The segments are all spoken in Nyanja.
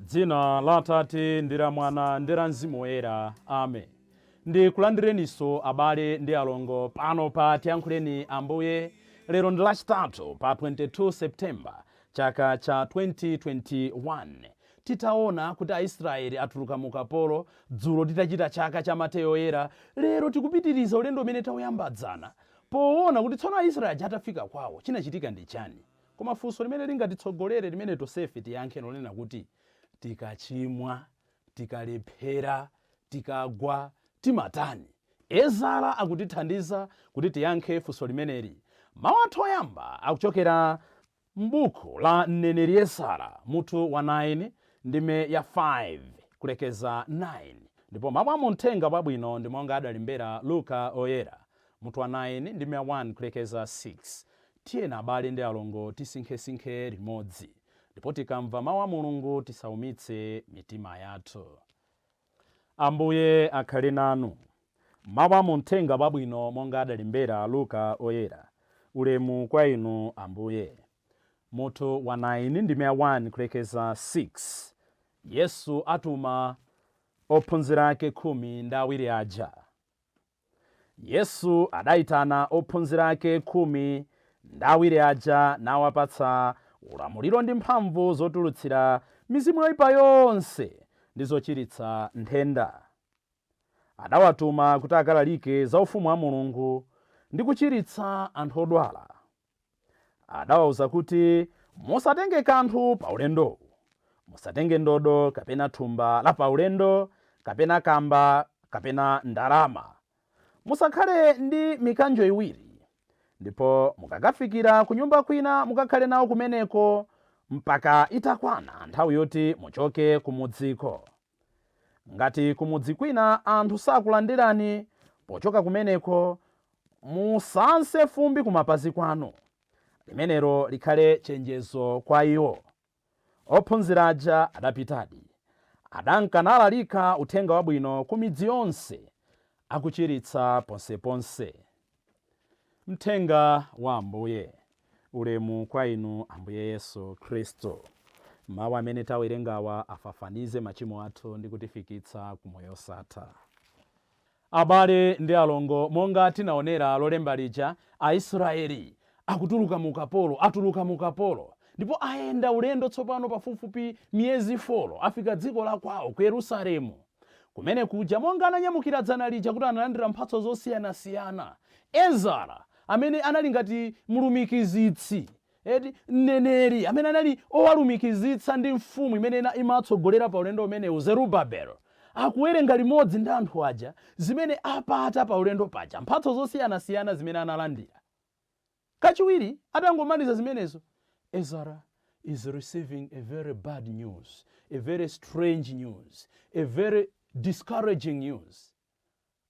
dzina la atate ndi la mwana ndi la mzimu woyera amen ndikulandireninso abale ndi alongo pano pa tiyankhuleni ambuye lero ndi lachitatu pa 22 septemba Chaka cha 2021 Titaona kuti Aisraeli atuluka mu ukapolo, dzulo titachita chaka cha Mateyo Woyera, lero tikupitiriza ulendo umene tauyamba dzana poona kuti tsono Aisraeli aja atafika kwawo, chinachitika ndi chani? Koma funso limene lingatitsogolere limene tonsefe tiyankhe n'lonena kuti, Tikachimwa. Tikalephera, tikagwa, timatani? Ezara akutithandiza kuti tiyankhe funso limeneli. Mawu athu oyamba akuchokera m'buku la mneneri Ezara, mutu wa 9, ndime ya 5 kulekeza 9, ndipo mawu a mu Mthenga Wabwino ndi monga adalembera Luka Woyera, mutu wa 9, ndime ya 1 kulekeza 6. Tiyeni abale ndi alongo tisinkhesinkhe limodzi. Ndipo tikamva mau a Mulungu tisaumitse mitima yathu. Ambuye akhale nanu. Mau a mu mthenga wabwino monga adalembera Luka oyera. Ulemu kwa inu Ambuye. Mutu wa 9 ndime ya 1 kulekeza 6 Yesu atuma ophunzira ake khumi ndi awiri aja. Yesu adaitana ophunzira ake khumi ndi awiri aja nawapatsa ulamuliro ndi mphamvu zotulutsira mizimu yoipa yonse ndi zochiritsa nthenda. Adawatuma kuti akalalike za Ufumu wa Mulungu ndi kuchiritsa anthu odwala. Adawauza kuti, Musatenge kanthu pa ulendowu. Musatenge ndodo kapena thumba la paulendo, kapena kamba, kapena ndalama. Musakhale ndi mikanjo iwiri. Ndipo mukakafikira kunyumba kwina mukakhale nawo kumeneko mpaka itakwana nthawi yoti muchoke kumudziko. Ngati kumudzi kwina anthu sakulandirani pochoka kumeneko, musanse fumbi kumapazi kwanu. Limenelo likhale chenjezo kwa iwo. Ophunzira aja adapitadi. Adanka nalalika Uthenga Wabwino ku midzi yonse, akuchiritsa ponseponse. Mthenga wa Ambuye. Ulemu kwa Inu, Ambuye Yesu Kristu. Mawu amene tawerengawa afafanize machimo athu ndi kutifikitsa ku moyo osatha. Abale ndi alongo, monga tinaonera lolemba lija, Aisrayeli akutuluka mu ukapolo, atuluka mu ukapolo, ndipo ayenda ulendo tsopano pafupifupi miyezi foro, afika dziko la kwawo, ku Yerusalemu. Kumene kuja, monga ananyamukira dzana lija kuti analandira mphatso zosiyanasiyana, Ezara, amene anali ngati mlumikizitsi, eti, mneneri amene anali owalumikizitsa ndi mfumu imene imatsogolera pa ulendo umenewu, Zerubabel, akuwerenga limodzi ndi anthu aja zimene apata pa ulendo paja, mphatso zosiyanasiyana zimene analandira. Kachiwiri atangomaliza zimenezo, Ezara is receiving a very bad news, a very strange news, a very discouraging news.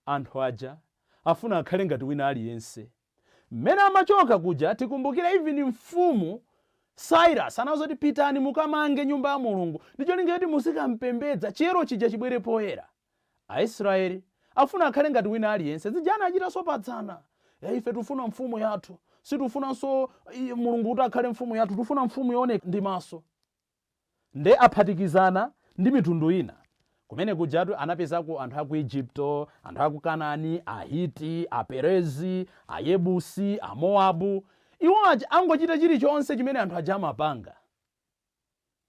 Anthu aja afuna akhale ngati wina aliyense. Mmene amachoka kuja tikumbukira even mfumu Cyrus anauza kuti pitani mukamange nyumba ya Mulungu ndi cholinga choti muzikampembedza chiyero chija chibwere poyera. Aisraeli afuna akhale ngati wina aliyense, zija anachitanso pa dzana. E, ife tufuna mfumu yathu, situfunanso Mulungu kuti akhale mfumu yathu, tufuna mfumu yooneka ndi maso. Nde aphatikizana ndi mitundu ina. Kumene kujatu anapezako anthu a ku Egypto, anthu a ku Kanani, Ahiti, Aperezi, Ayebusi, Amoabu. Iwo aja angochita chilichonse chimene anthu aja amapanga.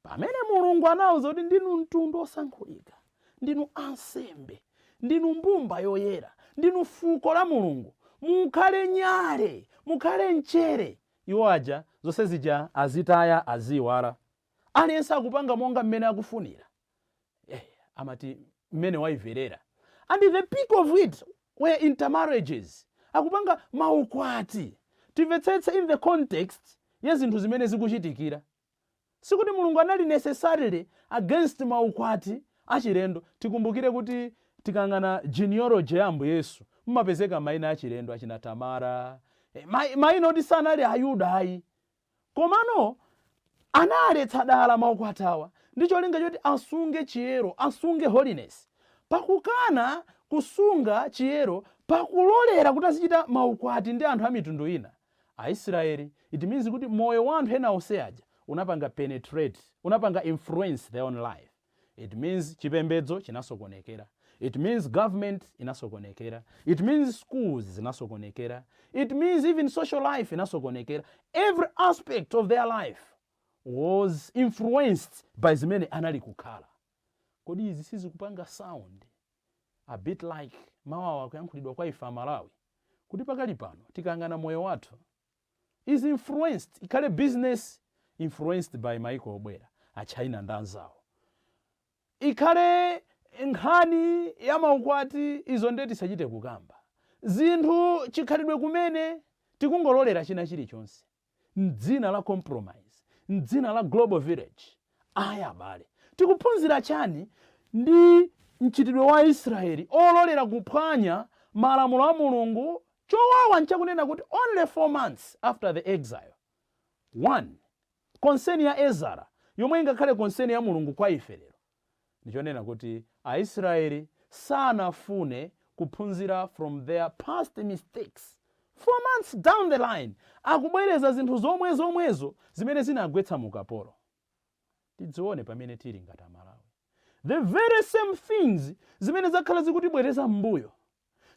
Pamene Mulungu anauza kuti ndinu mtundu osankhulika, ndinu ansembe, ndinu mbumba yoyera, ndinu fuko la Mulungu, mukhale nyale, mukhale mchere. Iwo aja zonse zija azitaya, aziiwala. Aliyense akupanga monga mmene akufunira. eh, amati mmene waiverera and the peak of it were intermarriages akupanga maukwati timvetsetse in the context ya zinthu zimene zikuchitikira sikuti mulungu anali necessarily against maukwati achilendo tikumbukire kuti tikang'ana genealogy ya ambuye yesu mmapezeka maina achilendo achina tamara eh, mai- maina oti sanali ayuda ayi Komano analetsa dala maukwati awa ndi cholinga choti asunge chiyero, asunge holiness. Pakukana kusunga chiyero, pakulolera kuti azichita maukwati ndi anthu a mitundu ina, Aisraeli, it means kuti moyo wa anthu ena onse aja unapanga penetrate, unapanga influence their own life. It means chipembedzo chinasokonekera. It means government inasokonekera. It means schools zinasokonekera. It means even social life inasokonekera. Every aspect of their life was influenced by zimene anali kukhala. Kodi izi sizikupanga sound a bit like mawuwa akuyankhulidwa kwa ife Amalawi kuti pakali pano tikayang'ana moyo wathu is influenced ikhale business influenced by maiko obwera a China ndi anzawo. Ikhale nkhani ya maukwati izo ndiye tisachite kukamba zinthu chikhalidwe kumene tikungololera china chilichonse mdzina la compromise mdzina la global village ayi abale tikuphunzira chani ndi mchitidwe wa Aisraeli ololera kuphwanya malamulo a Mulungu Chowawa nchakunena kuti only four months after the exile, one concern ya Ezara yomwe ingakhale concern ya Mulungu kwa ife lero ndichonena kuti Aisraeli sanafune kuphunzira from their past mistakes, four months down the line akubwereza zinthu zomwezomwezo zimene zinagwetsa mu ukapolo. tidzione pamene tili ngati amalawi the very same things zimene zakhala zikutibwereza mmbuyo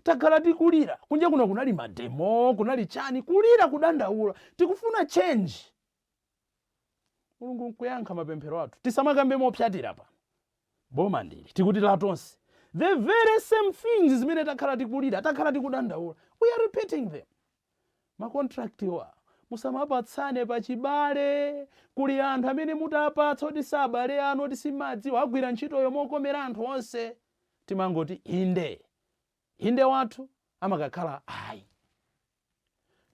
takhala tikulira kunja kuno kunali mademo kunali chani kulira kudandaula tikufuna change mulungu nkuyankha mapemphero athu tisamakambe mopyatira pano boma ndili tikuti la tonse the very same things zimene takhala tikulira takhala tikudandaula we are repeating them Ma contract wa musamapatsane pa chibale. Kuli anthu amene mutawapatsa oti si abale anu oti simuwadziwa agwira ntchitoyo mokomera anthu onse. Timangoti inde. Inde wathu amakakhala ayi.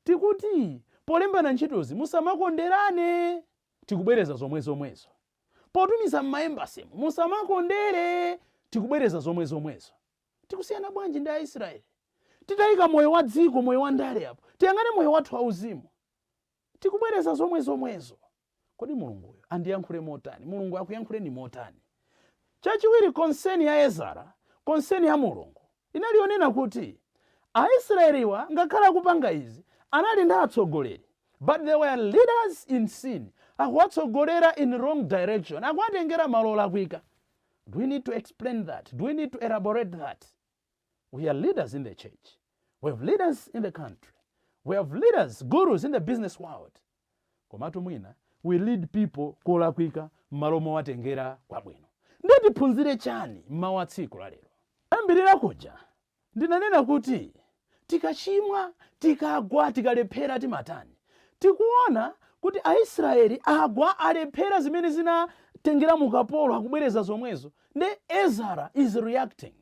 Tikuti polembana ntchitozi musamakonderane. Tikubwereza zomwezomwezo. Potumiza mma embassy mu musamakondere. Tikubwereza zomwezomwezo. Tikusiyana bwanji ndi Aisraeli? Titaika moyo wa dziko, moyo wa ndale apo, tiyang'ane moyo wathu wauzimu. Tikubwereza zomwezomwezo. Kodi Mulunguyo andiyankhule motani? Mulungu akuyankhuleni motani? Chachiwiri, concern ya Ezara, concern ya Mulungu, inali yonena kuti Aisraeliwa ngakhale akupanga izi, anali ndi atsogoleri, but they were leaders in sin, akuwatsogolera in wrong direction, akuwatengera malo olakwika. Do we need to explain that? Do we need to elaborate that? We are leaders in the church. We have leaders in the country. We have leaders, gurus in the business world. Komatu mwina, we lead people kolakwika m'malo mowatengera kwabwino. Ndiye tiphunzire chani m'mawu a tsiku la lero? Ambirira kuja, Ndinanena kuti tikachimwa, tikagwa, tikalephera timatani? Tikuona kuti Aisraeli agwa, alephera zimene zinatengera mu ukapolo akubwereza zomwezo nde Ezara is reacting.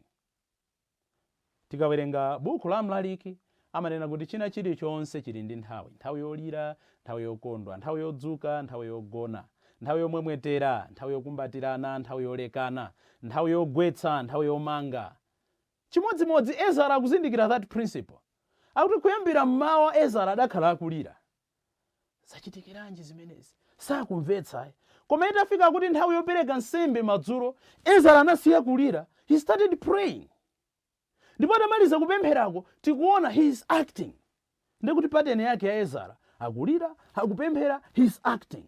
Tikawerenga buku la Mlaliki amanena kuti china chilichonse chili ndi nthawi, nthawi yolira, nthawi yokondwa, nthawi yodzuka, nthawi yogona, nthawi yomwetulira, nthawi yokumbatirana, nthawi yolekana, nthawi yogwetsa, nthawi yomanga. Chimodzimodzi Ezara akuzindikira that principle. Akuti kuyambira mmawa Ezara adakhala akulira. Zachitikiranji zimenezi? Sakumvetsa ayi. Koma itafika kuti nthawi yopereka nsembe madzulo, Ezara anasiya kulira, he started praying. Ndipo atamaliza kupempherako, tikuona he is acting. Ndekuti pattern yake ya Ezara, akulira, akupemphera, he is acting.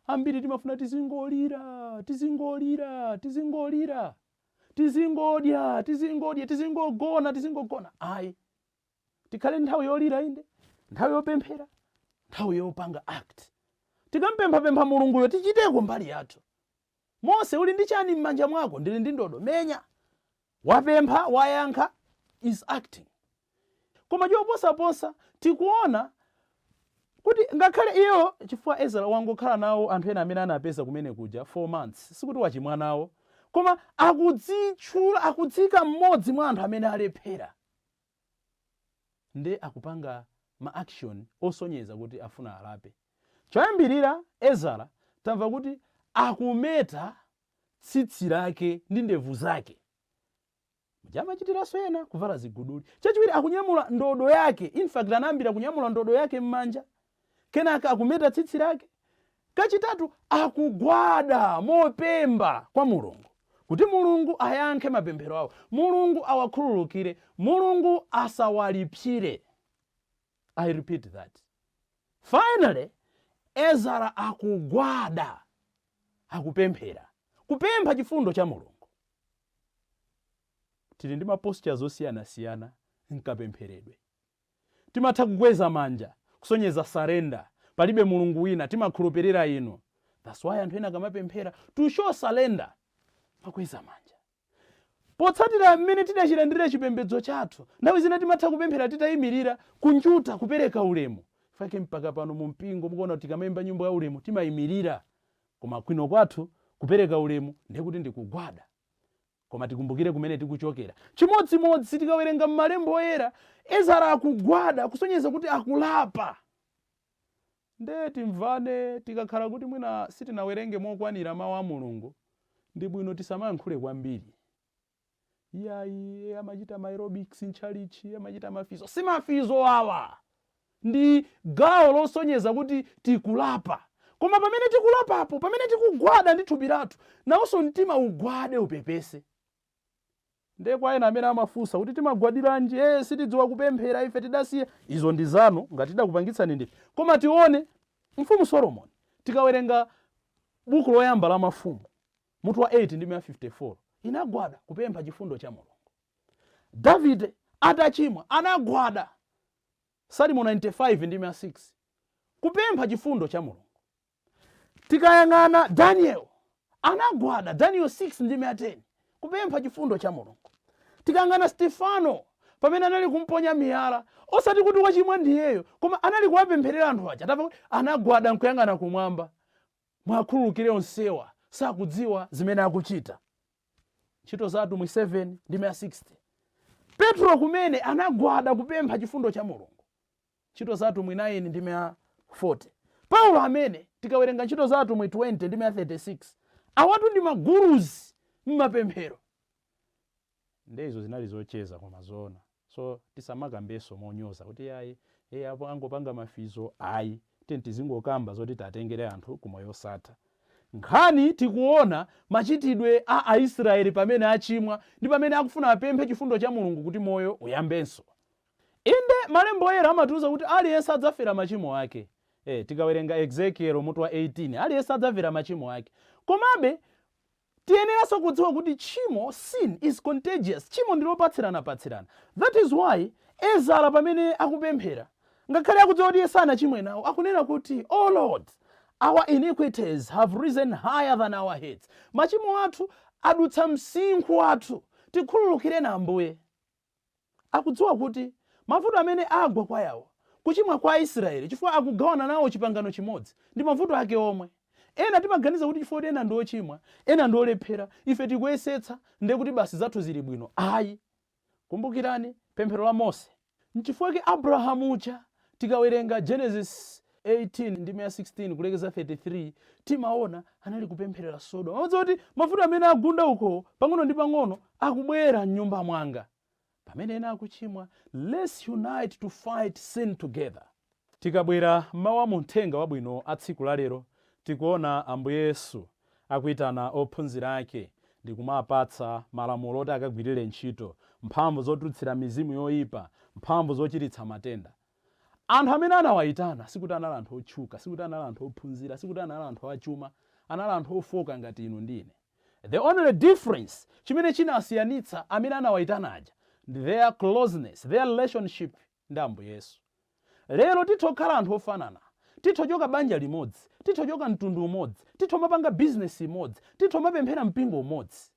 Ambiri timafuna tizingolira, tizingolira, tizingolira. tizingodya tizingodya tizingogona tizingogona ayi tikhale nthawi yolira inde nthawi yopemphera nthawi yopanga act tikampemphapempha mulunguyo tichiteko mbali yathu mose uli ndi chani m'manja mwako ndili ndi ndodo menya wapempha wayankha he is acting Koma choposaposa, tikuona Kuti ngakhale iye chifukwa Ezara wangokhala nawo anthu ena amene anawapeza kumene kuja 4 months, sikuti wachimwa nawo, koma akudzitchula, akudziika mmodzi mwa anthu amene alephera, nde akupanga ma action osonyeza kuti afuna alape. Choyambirira, Ezara tamva kuti akumeta tsitsi lake ndi ndevu zake. Muja amachitiranso ena kuvala ziguduli. Chachiwiri akunyamula ndodo yake. In fact anayambira kunyamula ndodo yake m'manja. Kenaka akumeta tsitsi lake. Kachitatu akugwada mopemba kwa Mulungu kuti Mulungu ayankhe mapemphero awo. Mulungu awakhululukire. Mulungu asawalipsire. I repeat that. Finally, Ezara akugwada akupemphera, kupempha chifundo cha Mulungu. Tili ndi ma postures osiyanasiyana mkapempheredwe. Timatha kukweza manja kusonyeza surrender, palibe Mulungu wina, timakhulupirira inu. That's why anthu ena akamapemphera, to show surrender, amakweza manja. Potsatira mmene tidachilandirira chipembedzo chathu, nthawi zina timatha kupemphera titayimirira, kunjata, kupereka ulemu. N'chake mpaka pano mu mpingo mukuona kuti tikamaimba nyimbo ya ulemu timayimirira koma kuno kwathu kupereka ulemu ndiye kuti ndi kugwada. Koma tikumbukire kumene tikuchokera. Chimodzimodzi tikawerenga m'malemba oyera, Ezara akugwada kusonyeza kuti akulapa. Nde timvane, tikakhala kuti mwina sitinawerenge mokwanira Mawu a Mulungu, ndi bwino tisamayankhule kwambiri. Iyayi, amachita ma aerobics m'tchalitchi, amachita mafizo. Si mafizo awa! Ndi gawo losonyeza kuti tikulapa. Koma pamene tikulapapo, pamene tikugwada ndi thupi lathu, nawonso mtima ugwade upepese. Nde kwa ena amene amafunsa kuti timagwadiranji, ee sitidziwa kupemphera ife tidasiya, izo ndi zanu ngati tidakupangitsani ndife. Koma tione mfumu Solomoni tikawerenga buku loyamba la mafumu mutu wa 8 ndime ya 54 inagwada kupempha chifundo cha Mulungu. Davide atachimwa anagwada Salimo 95 ndime ya 6 kupempha chifundo cha Mulungu. Tikayang'ana Daniel, anagwada, Daniel 6 ndime ya 10, kupempha chifundo cha Mulungu. Tikayang'ana Stefano, pamene anali kumponya miyala, osati kuti wachimwa ndiyeyo, koma anali kuwapempherera anthu aja, tamva anagwada nkuyang'ana kumwamba, muwakhululukire onsewa, sakudziwa zimene akuchita. Ntchito za Atumwi 7 ndime ya 60. Petro kumene anagwada kupempha chifundo cha Mulungu. Ntchito za Atumwi 9 ndime ya 40. Paulo amene, tikawerenga Ntchito za Atumwi 20 ndime ya 36, awatu ndi ma Gurus mmapemphero. Nde izo zinali zocheza koma zoona. So tisamakambenso monyoza kuti iyayi, ee apo angopanga mafizo, ayi. Tiyeni tizingokamba zoti tiwatengere anthu ku moyo osatha. Nkhani tikuona machitidwe a Aisraeli pamene achimwa ndi pamene akufuna apemphe chifundo cha Mulungu kuti moyo uyambenso. Inde, Malembo Oyera amatiuza kuti aliyense adzafera machimo ake. Ee, tikawerenga Ezekiel mutu wa 18, aliyense adzafera machimo ake. Komabe, tiyeneranso kudziwa kuti tchimo, sin, is contagious. Tchimo ndi lopatsiranapatsirana. That is why, Ezara pamene akupemphera, ngakhale akudziwa kuti iye sanachimwe nawo, akunena kuti, O Lord, our iniquities have risen higher than our heads. Machimo athu adutsa msinkhu wathu. Tikhululukireni, Ambuye. Akudziwa kuti mavuto amene agwa kwa awa, kuchimwa kwa Aisraeli chifukwa akugawana nawo chipangano chimodzi, ndi mavuto ake omwe. Ena timaganiza kuti chifukwa kuti ena ndi ochimwa, ena ndi olephera, ife tikuyesetsa nde kuti basi zathu zili bwino. Ayi. Kumbukirani pemphero la Mose. N'chifukwa chake Abrahamu uja tikawerenga Genesis 18 ndime ya 16 kulekeza 33 timaona anali kupempherera sodoma amadziwa kuti mavuto amene agunda uko pang'ono ndi pang'ono akubwera mnyumba mwanga pamene ena akuchimwa let's unite to fight sin together tikabwera mmawu a muthenga wabwino a tsiku lalero tikuona ambuye yesu akuitana ophunzira ake ndi kuwapatsa malamulo oti akagwirire ntchito mphamvu zotulutsira mizimu yoyipa mphamvu zochiritsa matenda Anthu amene anawaitana sikuti anali anthu otchuka, sikuti anali anthu ophunzira, sikuti anali anthu achuma, anali anthu ofooka ngati inu ndi ine. The only difference, chimene chinasiyanitsa amene anawaitana aja, ndi their closeness, their relationship ndi Ambuye Yesu. Lero titha kukhala anthu ofanana, titha kuchoka banja limodzi, titha kuchoka mtundu umodzi, titha kumapanga business imodzi, titha kumapemphera mpingo umodzi.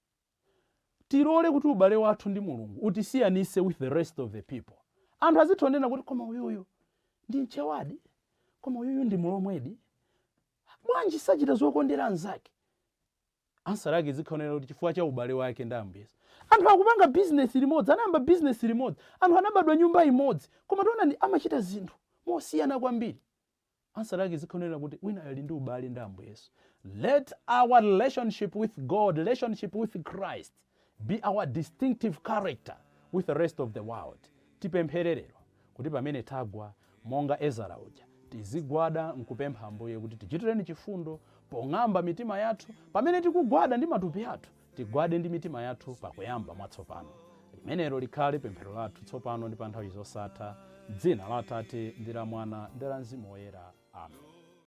tilole kuti ubale wathu ndi Mulungu utisiyanise with the rest of the people. Anthu azitha kunena kuti koma uyuyu ndi mchawadi, koma uyuyu ndi mlomwedi, bwanji sachita zokondera anzake? Answer lake izikhala kunena kuti chifukwa cha ubale wake ndi Ambuye Yesu. Anthu akupanga business limodzi, anayamba business limodzi, anthu anabadwa nyumba imodzi, koma taonani amachita zinthu mosiyana kwambiri. Answer lake izikhale yonena kuti winayo ali ndi ubale ndi Ambuye Yesu. Let our relationship with God, relationship with Christ be our distinctive character with the rest of the world. Tipemphere lero kuti pamene tagwa monga Ezara uja, tizigwada nkupempha Ambuye kuti tichitireni chifundo pong'amba mitima yathu pamene tikugwada ndi matupi athu Tigwade ndi mitima yathu pakuyamba mwatsopano. Limenelo likhale pemphero lathu tsopano ndi pa nthawi zosatha, m'dzina la Atate, ndi la Mwana, ndi la Mzimu Woyera. Amen.